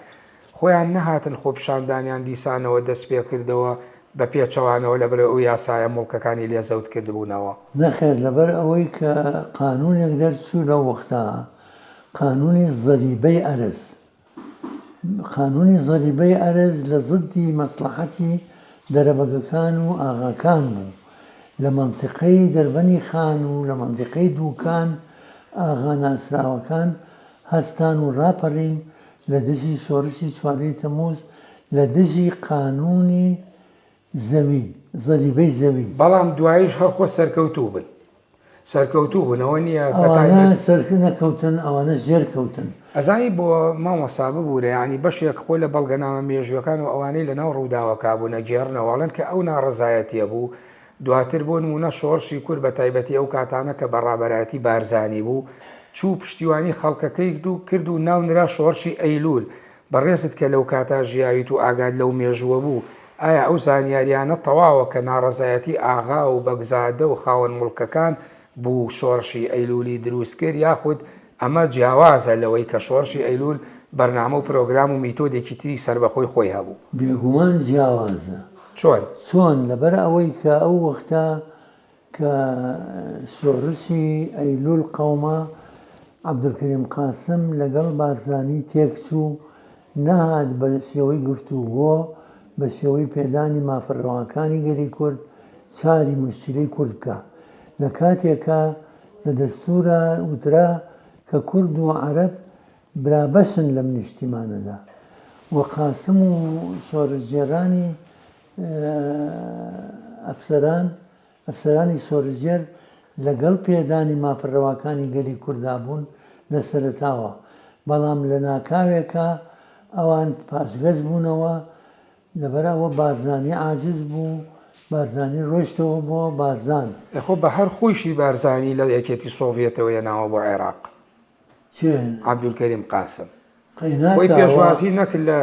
خۆیان نەهاتن خۆپیشاندانیان دیسانەوە دەستپێکردەوە بە پێچەوانەوە لەبەرئەوەی ئەو یاسایە موڵکەکانی لێ زەوت کردبوونەوە. نەخێر لەبەر ئەوەی کە قانوونێک دەرچوو لەو وەختە، قانوونی زەریبەی ئەرز، قانوونی زەریبەی ئەرز لە زدی مەسڵەحەتی دەرەبەگەکان و ئاغاکان بوو. لە مەنتیقەی دەربەنی خان و لە مەنتیقەی دووکان ئاغا ناسراوەکان هەستان و ڕاپەڕین لە دژی شۆڕشی چواردەی تەمووز لە دژی قانوونی زەوی، زەریبەی زەوی. بەڵام دواییش هەر خۆ سەرکەوتوو بن. سەرکەوتوو بن ئەوە نییە بە تایبەت. ئەوانە سەر نەکەوتن ئەوانە ژێر کەوتن. ئەزانی بۆ مامۆستا ببورە یانی بەشێک خۆ لە بەڵگەنامە مێژوویەکان و ئەوانەی لە ناو ڕووداوەکە بوون ئەگێڕنەوە ئەڵێن کە ئەو ناڕەزایەتیە بوو دواتر بۆ نموونە شۆڕشی کورد بە تایبەتی ئەو کاتانە کە بە ڕابەرایەتی بارزانی بوو چوو پشتیوانی خەڵکەکەی کرد و ناونرا شۆڕشی ئەیلول بەڕێزت کە لەو کاتە ژیاویت و ئاگات لەو مێژووە بوو، ئایا ئەو زانیاریانەت تەواوە کە ناڕەزایەتی ئاغا و بەگزادە و خاوەن موڵکەکان بوو شۆڕشی ئەیلوولی درووست کرد یاخود ئەمە جیاوازە لەوەی کە شۆڕشی ئەیلوول بەرنامە و پرۆگرام و میتۆدێکی تری سەربەخۆی خۆی هەبوو؟ بێگومان جیاوازە. چۆن؟ چۆن؟ لەبەر ئەوەی کە ئەو وەختە کە شۆڕشی ئەیلول قەوما، عەبدولکەریم قاسم لەگەڵ بارزانی تێکچوو، نەهات بە شێوەی گفتوگۆ، بە شێوەی پێدانی مافە رەواکانی گەلی کورد چاری موشکیلەی کورد بکا. لە کاتێکا لە دەستوورا وترا کە کورد و عەرەب برابەشن لەم نیشتیمانەدا و قاسم و شۆڕشگێڕانی ئەفسەران، ئەفسەرانی سۆرژێر لەگەڵ پێدانی مافە رەواکانی گەلی کوردا بوون لە سەرەتاوە، بەڵام لە ناکاوێکا ئەوان پاشگەز بوونەوە، لەبەر ئەوە بارزانی عاجز بوو، بارزانی رۆیشتەوە بۆ بارزان. ئەخۆ بە هەر خۆیشی بارزانی لە یەکێتی سۆڤیەتەوە یەناوە بۆ عێراق. عەبدولکەریم قاسم خۆی پێشوازی نەکرد لە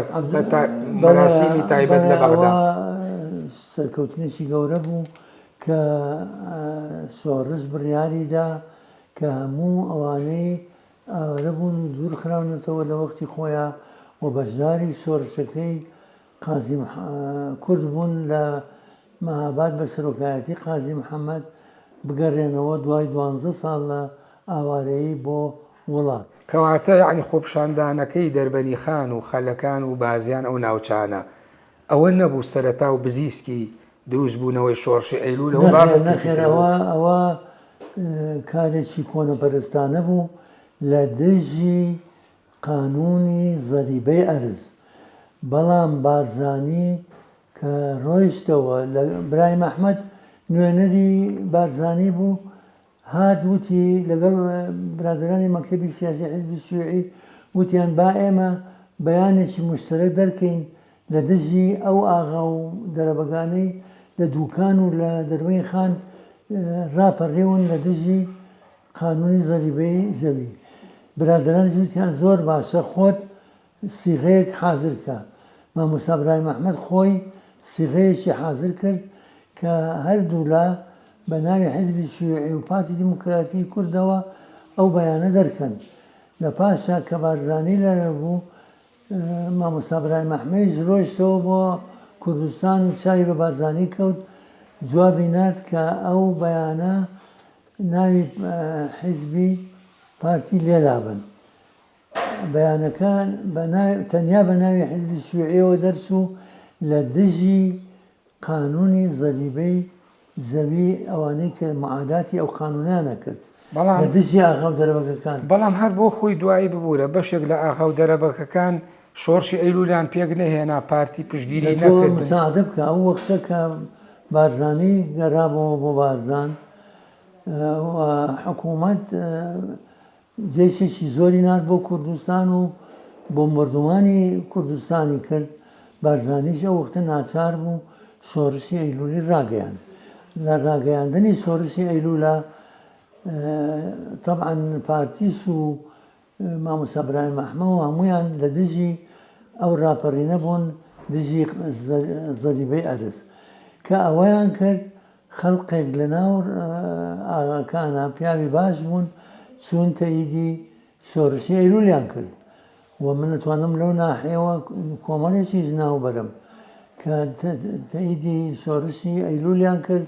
مەراسیمی تایبەت لە بەغدا. سەرکەوتنێکی گەورە بوو کە سۆرس بڕیاری دا کە هەموو ئەوانەی ئاوارە بوون و دوورخراونەتەوە لە وەختی خۆیان و بەشداری شۆرشەکەی قازی کورد بوون لە مەهاباد بە سەرۆکایەتی قازی محەمەد بگەرێنەوە دوای دوانزە ساڵ لە ئاوارەیی بۆ وڵات. کەواتە یەعنی خۆپشاندانەکەی دەربەنیخان و خەلەکان و بازیان ئەو ناوچانە ئەوە نەبوو سەرەتا و بزیسکی دروست بوونەوەی شۆڕشی ئەیلولەوە بابەتێکی تر بوو. نەخێر ئەوە ئەوە کارێکی کۆنەپەرستانە بوو لە دژی قانونی زەریبەی ئەرز بەڵام بارزانی کە ڕۆیشتەوە لە برایم ئەحمەد نوێنەری بارزانی بوو هات وتی لەگەڵ برادەرانی مەکتەبی سیاسی حیزبی شیوعی وتیان با ئێمە بەیانێکی موشتەرەک دەرکەین لە دژی ئەو ئاغا و دەرەبەگانەی لە دووکان و لە دەروەین خان ڕاپەڕیون لە دژی قانونی زەریبەی زەوی. برادەران جوتیان زۆر باشە خۆت سیغەیەک حازر کە. مامۆستا برایم احمد خۆی سیغەیەکی حازر کرد کە هەردوولا بە ناوی حیزبی شیوعی و پارتی دیموکراتی کوردەوە ئەو بەیانە دەرکەن. لە پاشا کە بارزانی لەوێ بوو مامۆستا برایم ئەحمەیش رۆیشتەوە بۆ کوردستان و چاوی بە بارزانی کەوت جوابی نارد کە ئەو بەیانە ناوی حیزبی پارتی لێ لابەن بەیانەکە تەنیا بە ناوی حیزبی شیوعیەوە دەرچوو لە دژی قانونی زەریبەی زەوی ئەوانەی کە معاداتی ئەو قانونانە کرد بەڵام لە دژی ئاغاو دەرەبەگەکان. بەڵام هەر بۆ خۆی دوایی ببورە بەشێک لە ئاغاو دەرەبەگەکان شۆڕشی ئەیلولیان پێک نەهێنا پارتی پشتگیری نەکردن. دە تۆ مساعەدە بکە ئەو وەختە کە بارزانی گەرابەوە بۆ بارزان و حکومەت جەیشێکی زۆری نارد بۆ کوردستان و بۆمبەردومانی کوردستانی کرد، بارزانیش ئەو وەختە ناچار بوو شۆرشی ئەیلولی راگەیاند، لە راگەیاندنی شۆرشی ئەیلولا تەبعەن پارتیش و مامۆستا برایم ئەحمە و هەموویان لە دژی ئەو راپەرینە بوون دژی زەریبەی ئەرز کە ئەوەیان کرد، خەڵقێک لە ناو ئاغاکانا پیاوی باش بوون چوونتە ئیدی شۆرشی ئەیلولیان کرد و من ئەتوانم لەو ناحیەوە کۆمەڵێکیش ناو بەرم کە تە ئیدی شۆرشی ئەیلولیان کرد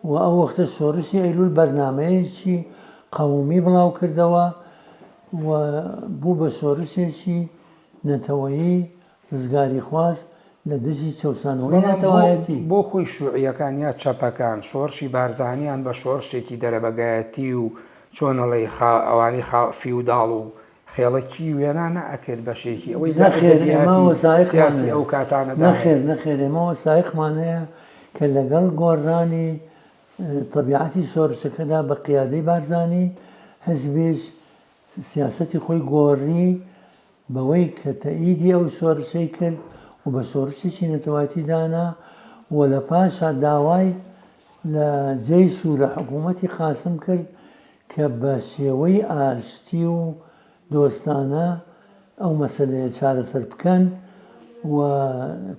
و ئەو وەختە شۆرشی ئەیلول بەرنامەیەکی قەومی بڵاو کردەوە و بوو بە شۆرشێکی نەتەوەیی ڕزگاریخواز لە دژی چەوسانەوەی نەتەوایەتی. بەڵام بۆ خۆی شوعیەکان یا چەپەکان شۆڕشی بارزانیان بە شۆڕشێکی دەرەبەگایەتی و چۆن ئەڵێی خا ئەوانەی خا فیوداڵ و خێڵەکی وێنا نەئەکرد بەشێکی ئەوەی لە ئەدەبیاتی سیاسی ئەو کاتانەدا هەیە. نەخێر نەخێر ئێمە وەسایقمان هەیە کە لەگەڵ گۆڕرانی تەبیعەتی شۆڕشەکەدا بە قیادەی بارزانی حزبیش سیاسەتی خۆی گۆڕی بەوەی کە تەئیدی ئەو شۆرشەی کرد و بە شۆرشێکی نەتەوایەتی دانا و لە پاشا داوای لە جەیش و لە حکوومەتی قاسم کرد کە بە شێوەی ئاشتی و دۆستانە ئەو مەسەلەیە چارەسەر بکەن و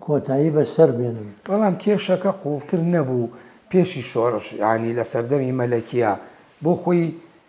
کۆتایی بە شەر بێنن. بەڵام کێشەکە قووڵتر نەبوو پێشی شۆڕش یانی لە سەردەمی مەلەکییە بۆ خۆی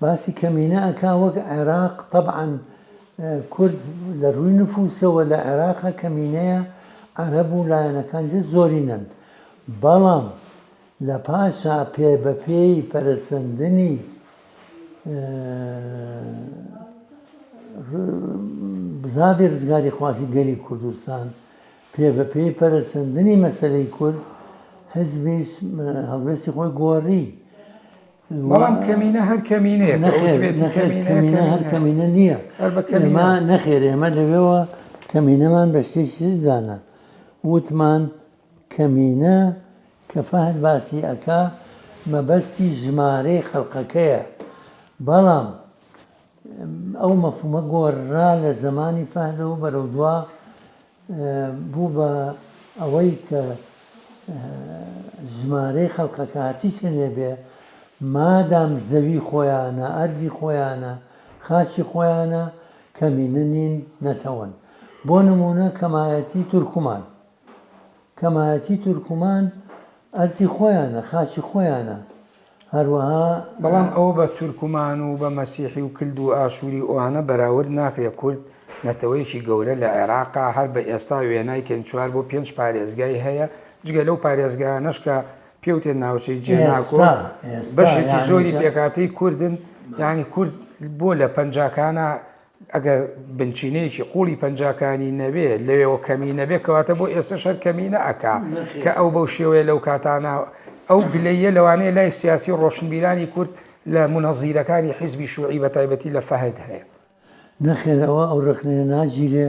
باسی کەمینە ئەکا وەک عێراق تەبعەن کورد لە رووی نفوسەوە لە عێراقا کەمینەیە عەرەب و لایەنەکان جە زۆرینەن بەڵام لە پاشا پێ بە پێی پەرەسەندنی بزاڤی رزگاری خوازی گەلی کوردستان پێ بە پێی پەرەسەندنی مەسەلەی کورد حزبیش هەڵوێستی خۆی گۆڕی بەڵام کەمینە هەر کەمینەیە کەمینە هەر کەمینە نییە ئەمە نەخێر ئێمە لەوێەوە کەمینەمان بە شتێکیدانە وتمان کەمینە کە فەهد باسی ئەک مەبەستی ژمارەی خەڵقەکەیە بەڵام ئەو مەفومە گۆڕرا لە زمانی فەهدەوە بەرەو دوا بوو بە ئەوەی کە ژمارەی خەڵکەکە هەرچی چەندێ بێ مادام زەوی خۆیانە ئەرزی خۆیانە خاچی خۆیانە کەمینە نین نەتەوەن بۆ نمونە کەمایەتی تورکمان کەمایەتی تورکمان ئەرکی خۆیانە، خاکی خۆیانە، هەروەها. بەڵام ئەوە بە تورکمان و بە مەسیحی و کلد و ئاشوری ئەوانە بەراورد ناکرێت، کورد نەتەوەیەکی گەورە لە عێراقە، هەر بە ئێستا وێنای کەین چوار بۆ پێنج پارێزگای هەیە، جگە لەو پارێزگایانەش کە پێوتێ ناوچەی جێناکۆ بەشێکی زۆری پێکهاتەی کوردن، یانی کورد بۆ لە پەنجاکانە ئەگەر بنچینەیەکی قوڵی پەنجاکانی نەبێ لەوێەوە کەمی نەبێ کەواتە بۆ ئێستا شەر کەمی نەکا کە ئەو بەو شێوەیە لەو کاتانە ئەو گلەیە لەوانەیە لای سیاسی ڕۆشنبیرانی کورد لە منەزیرەکانی حیزبی شوعی بە تایبەتی لە فەهد هەیە نەخێر ئەوە ئەو ڕخنەیە ناگیرێ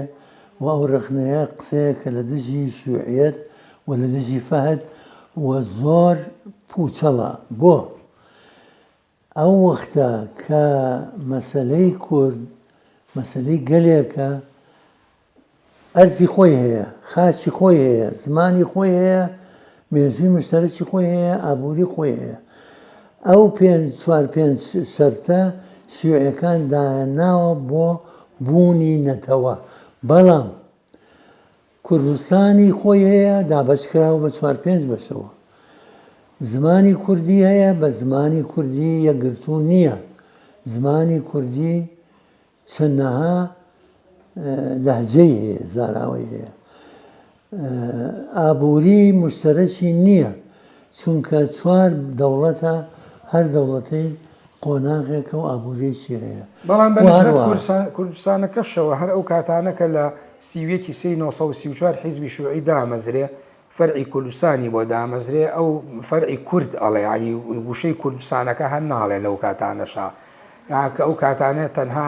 و ئەو ڕخنەیە قسەیە کە لە دژی شوعیەت و لە دژی فەهد و زۆر پوچەڵە بۆ؟ ئەو وەختە کە مەسەلەی کورد مەسەلەی گەلێکە ئەرزی خۆی هەیە، خاچی خۆی هەیە، زمانی خۆی هەیە، مێژووی مشتەرەکی خۆی هەیە، ئابووری خۆی هەیە. ئەو پێنج چوار پێنج شەرتە شیوعەکان دایانناوە بۆ بوونی نەتەوە، بەڵام کوردستانی خۆی هەیە دابەشکراوە بە چوار پێنج بەشەوە زمانی کوردی هەیە بە زمانی کوردی یەکگرتوو نییە زمانی کوردی چەندەها لەهجەی هەیە زاراوەی هەیە ئابووری مشتەرەکی نییە چونکە چوار دەوڵەتە هەر دەوڵەتەی قۆناغێکە و ئابووریەکی هەیە بەڵام بە نسبەت کوردستانەکەشەوە هەر ئەو کاتانە کە لە سی و یەک ی سێی نۆ سەد و سی و چوار حیزبی شوعی دامەزرێ فەرعی کوردستانی بۆ دامەزرێ ئەو فەرعی کورد ئەڵێ یانی ووشەی کوردستانەکە هەر ناڵێ لەو کاتانەشا یان کە ئەو کاتانە تەنها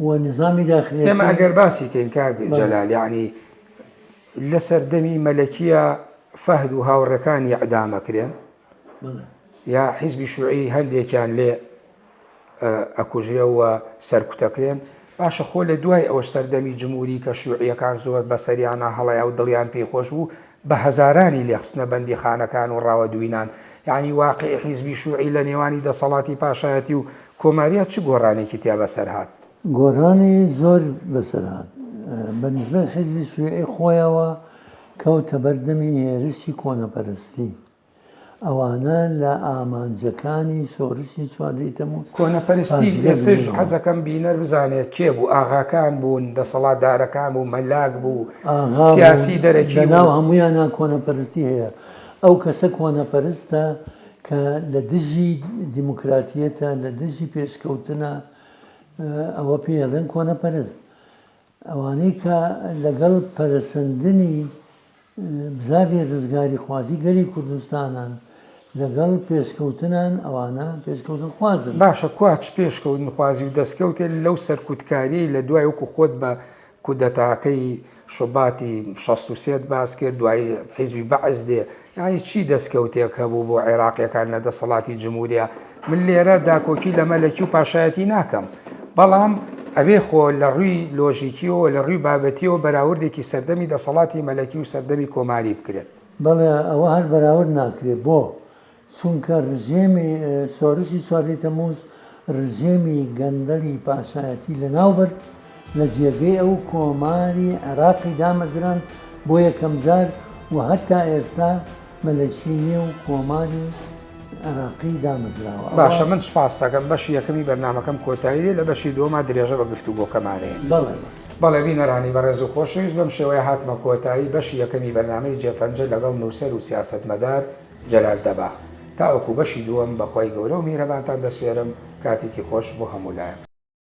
و نیزامی داخلیەتی. ئێمە ئەگەر باسی کەین کاک جەلال یەعنی لە سەردەمی مەلەکیە فەهد و هاوڕێکانی ئەعدام ئەکرێن یا حیزبی شوعی هەندێکیان لێ ئەکوژرێەوە سەرکوتەکرێن باشە خۆ لە دوای ئەوە سەردەمی جمهوری کە شوعیەکان زۆر بەسەریانە هەڵەیە و دڵیان پێی خۆش بوو بە هەزارانی لێ خستنە بەندیخانەکان و ڕاوە دوینان، یەعنی واقیعی حیزبی شوعی لە نێوانی دەسەڵاتی پاشایەتی و کۆماریا چ گۆڕانێکی تیا بەسەر هات؟ گۆڕانی زۆر بەسەر هات. بە نیسبەت حیزبی شویعی خۆیەوە کەوتە بەر دەمی هێرشی کۆنەپەرستی. ئەوانە لە ئامانجەکانی شۆرشی چواردە ی تەموز کۆنەپەرستی بێ سژ حەزەکەم بینەر بزانێت کێ بوو ئاغاکان بوون دەسەڵاتدارەکان بوو مەلاک بوو ئاغا سیاسی دەرەکی بوو لەناو هەموویانا کۆنەپەرستی هەیە ئەو کەسە کۆنەپەرستە کە لە دژی دیموکراتیەتە لە دژی پێشکەوتنە ئەوە پێی ئەڵێن کۆنەپەرست ئەوانەی کە لەگەڵ پەرەسەندنی بزاڤی ڕزگاریخوازی گەلی کوردستانن، لەگەڵ پێشکەوتنان، ئەوانە پێشکەوتنخوازن. باشە کوا چ پێشکەوتنخوازی و دەستکەوتێ لەو سەرکوتکاریەی لە دوای وەکو خۆت بە کودەتاکەی شوباتی شەست و سێ ت باس کرد، دوای حیزبی بەعس دێ، یانی چی دەستکەوتێک هەبوو بۆ عێراقیەکان لە دەسەڵاتی جمهوریا من لێرە داکۆکی لە مەلەکی و پاشایەتی ناکەم بەڵام ئەوێ خۆ لە ڕووی لۆژیکیەوە لە ڕووی بابەتیەوە بەراوردێکی سەردەمی دەسەڵاتی مەلەکی و سەردەمی کۆماری بکرێت بەڵێ ئەوە هەر بەراورد ناکرێت بۆ؟ چونکە ڕژێمی شۆرشی چواردە تەموز رژێمی گەندەڵی پاشایەتی لەناوبرد، لە جێگەی ئەو کۆماری عێراقی دامەزراند بۆ یەکەمجار و هەتا ئێستا مەلەکی نیە و کۆماری عێراقی دامەزراوە. باشە من سوپاستەکەم بەشی یەکەمی بەرنامەکەم کۆتایی دێ لە بەشی دووەما درێژە بە گفتوگۆکەمانەیە. بەڵێ بەڵێ. بەڵێ بینەرانی بەڕێز و خۆشەویست بەم شێوەیە هاتمە کۆتایی بەشی یەکەمی بەرنامەی جێ پەنجە لەگەڵ نووسەر و سیاسەتمەدار، جەلال دەباغ، تاوەکو بەشی دووەم بەخوای گەورەو میهرەبانتان دەسپێرم، کاتێکی خۆش بۆ هەموو لایەک.